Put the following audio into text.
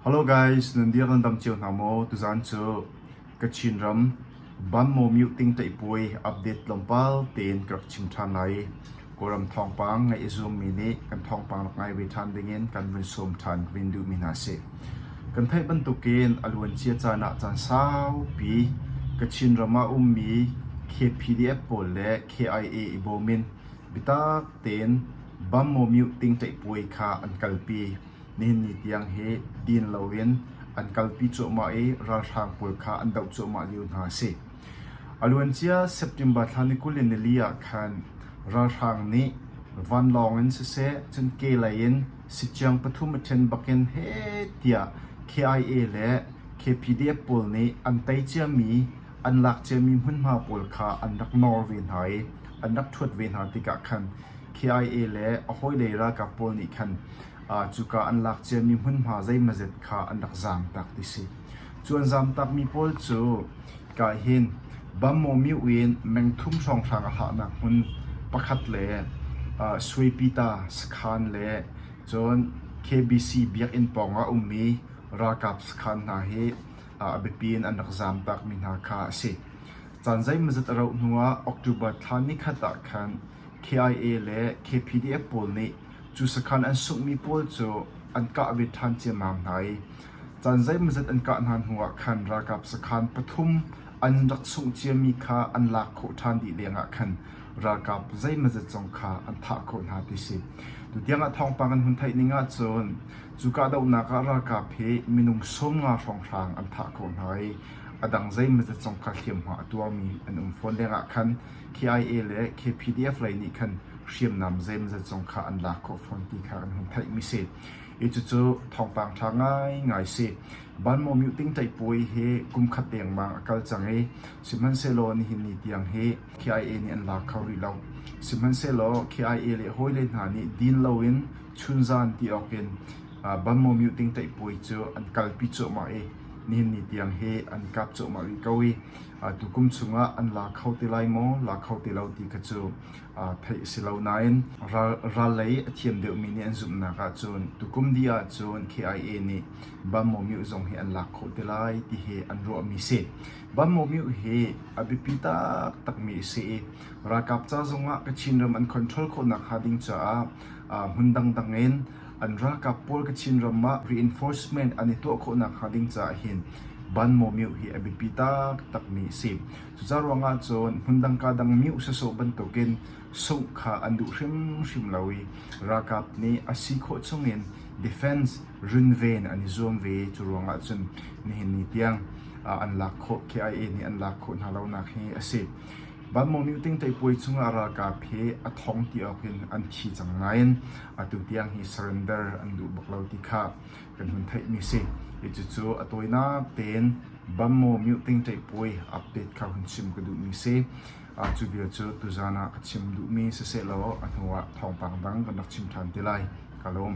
Hello guys, nan dir nan dam cio hna maw? Tuzan cu Kachin ram Banmo Mute Ting Taipuai update tlawmpal tein ka rak chim ṭhan lai. Kawlram thawngpang ngai i zoom mi nih kan thawngpang rak ngai ve ṭhan dingin kan vun sawm ṭhan vin duh mi hna si. Kan theih bantukin a luancia caan ah caan saupi Kachin ram ah ummi KPDF pawl le KIA i bawm in bitak tein Banmo Mute Ting Taipuai kha an kalpi. Nihin ni tiang hi din loin an kalpi cuahmah i ralhrang pawl kha an doh cuahmah lio hna a si. A luancia September thla ni kul le nili ah khan ralhrang nih vanlawng in siseh cun ke lei in siciang pathum a ṭhen bakin heh tiah KIA le KPDF pawl nih an tei ciami an lak ciami hmunhma pawl kha an rak nawr ve hna i an rak ṭhuat ve hna tikah khan KIA le a hawile ralkap pawl nih khan cuka an lak ciami hmunhma zeimazet kha an rak zaamtak ti si. Cu an zaamtakmi pawl cu kai hin Bammomiu in mengthum hrawnghrang a hahnak hmun pakhat le Suaypyta sakhan le cun KBC biakinn pawngah a ummi ralkap sakhan hna hi a biapi in an rak zaamtakmi hna kha a si. Caan zeimazet a rauh hnuah October thla ni khat ah khan KIA le KPDF pawl nih cu sakhan an sunghmi pawl cu an kah ve ṭhan ciammam hna i caan zeimawzet an kah hna hnuah khan ralkap sakhan pathum an rak sungh ciami kha an lak khawh ṭhan dih lengah khan ralkap zeimawzet zong kha an thah khawh hna ti si. Tutiangah thawngpang an hun theih ning ahcun cu kahdohnak ah ralkap hi minung sawmnga hrawnghrang an thah khawh hna i a dang zeimawzet zong kha hliamhma a tuarmi an um fawn lengah khan KIA le KPDF lei nih khan hriamnam zeimazat zong kha an lak khawh fawn ti kha kan hun theihmi si. I cucu thawngpang ṭha ngaingai si. Banmawmyuh tingtei puai hi kum khat dengmang a kal cang i sihmanhsehlaw nihin ni tiang hi KIA nih an lak kho rih lo. Sihmanhsehlaw KIA le hawile hna nih din loin chunzan ti awk in banmawmyuh tingtei puai cu an kalpi cuahmah i nihin ni tiang hi an kap cuahmah rih ko i atu kum chungah an la kho te lai maw, la kho te lo ti kha cu theih a si lo. Nain ral lei a thiam deuhmi nih an zumhnak ahcun tukum dih ahcun KIA nih bam maw mioh zong hi an lak khawh te lai ti hi an ruahmi a si. Bam maw mioh hi a biapi taktakmi a si i ralkap ca zongah Kachin ram an control khawh nakhnga ding caah hmun dangdang in An ralkap pawl ka Chinram ah reinforcement an i tuah khawh nakhnga ding caah hin ban maw mioh hi a biapi taktakmi a si. Cucaah ruangah cun hmundang kaa dang mioh sasawh bantukin sungh kha an duh hrimhrim lo i ralkap nih a si khawh chungin defense runven an i zuam ve. Cu ruangah cun nihin ni tiang an lak khawh KIA nih an lak khawh hna lonak hi a si. Vanmawng nih Tingtei puai chungah ralkap he a thong ti ahhin an thi cang nain atu tiang hi surrender an duh bak lo ti kha kan hun theihmi a si. Cucu a tawinak tein Vanmawmyuh Tingtei puai update kha hun chim ka duhmi a si. Cu vial cu tuzan ah ka chim duhmi sisehlaw a hnuah thawngpang dang kan rak chim ṭhan te lai. Ka lawm.